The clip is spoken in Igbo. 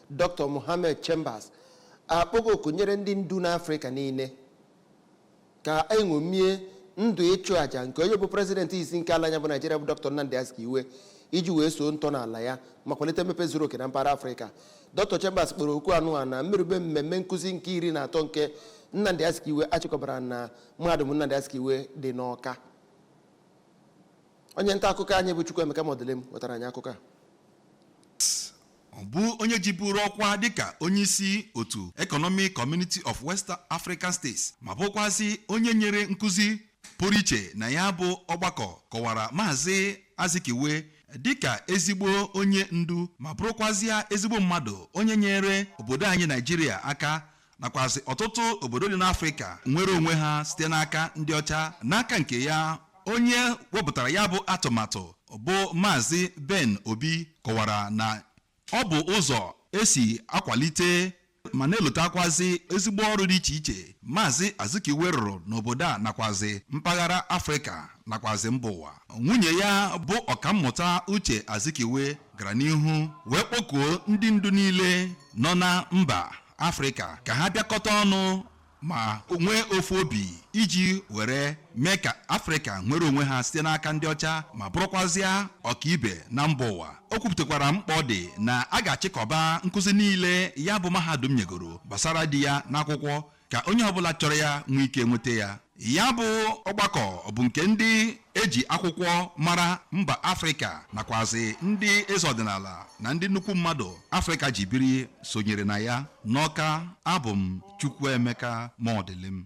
Dr. Mohammed Chambas akpọgo oku nyere ndị ndu n'Afrịka niile ka eṅomie ndụ ịchụ àjà nke onye bụ prezidenti izizi nke ala anyị a bụ Naijiria bụ Dr. Nnamdi Azikiwe iji wee soo ntọala ya ma kwalite mmepe zuru oke na mpaghara Afrịka Dr. Chambas kpọrọ oku anụ a na mmerube mmemme nkụzi nke iri na atọ nke Nnamdi Azikiwe achịkọbara na mahadum Nnamdi Azikiwe dị n'Ọka onye nta akụkọ anyị bụ Chukwuemeka Modilim wetara anyị akụkọ a ọ bụ onye jiburu ọkwa dịka onyeisi otu Economic Community of West African States ma bụkwazị onye nyere nkụzi pụrụ iche na ya bụ ọgbakọ kọwara maazị Azikiwe dịka ezigbo onye ndu ma bụrụkwazịa ezigbo mmadụ onye nyere obodo anyị Naijiria aka nakwazi ọtụtụ obodo dị n'afrịka nwere onwe ha site n'aka ndị ọcha n'aka nke ya onye wepụtara ya bụ atụmatụ bụ maazị ben obi kọwara na ọ bụ ụzọ esi akwalite ma na-elotakwazi ezigbo ọrụ dị iche iche maazị azikiwe rụrụ n'obodo a nakwazi mpaghara afrịka nakwazi mba ụwa nwunye ya bụ ọkammụta uche azikiwe gara n'ihu wee kpọkuo ndị ndu niile nọ na mba afrịka ka ha bịakọta ọnụ ma nwee ofu obi iji were mee ka afrịka nwere onwe ha site n'aka ndị ọcha ma bụrụkwazịa ọkaibe na mba ụwa o kwupụtakwara mkpa ọ dị na a ga-achịkọba nkụzi niile ya bụ mahadum nyegoro gbasara di ya n'akwụkwọ ka onye ọbụla chọrọ ya nwee ike nweta ya ya bụ ọgbakọ bụ nke ndị eji akwụkwọ mara mba afrịka nakwazi ndị eze ọdịnala na ndị nnukwu mmadụ afrịka ji biri sonyere na ya n'ọka abụ m chukwuemeka modilim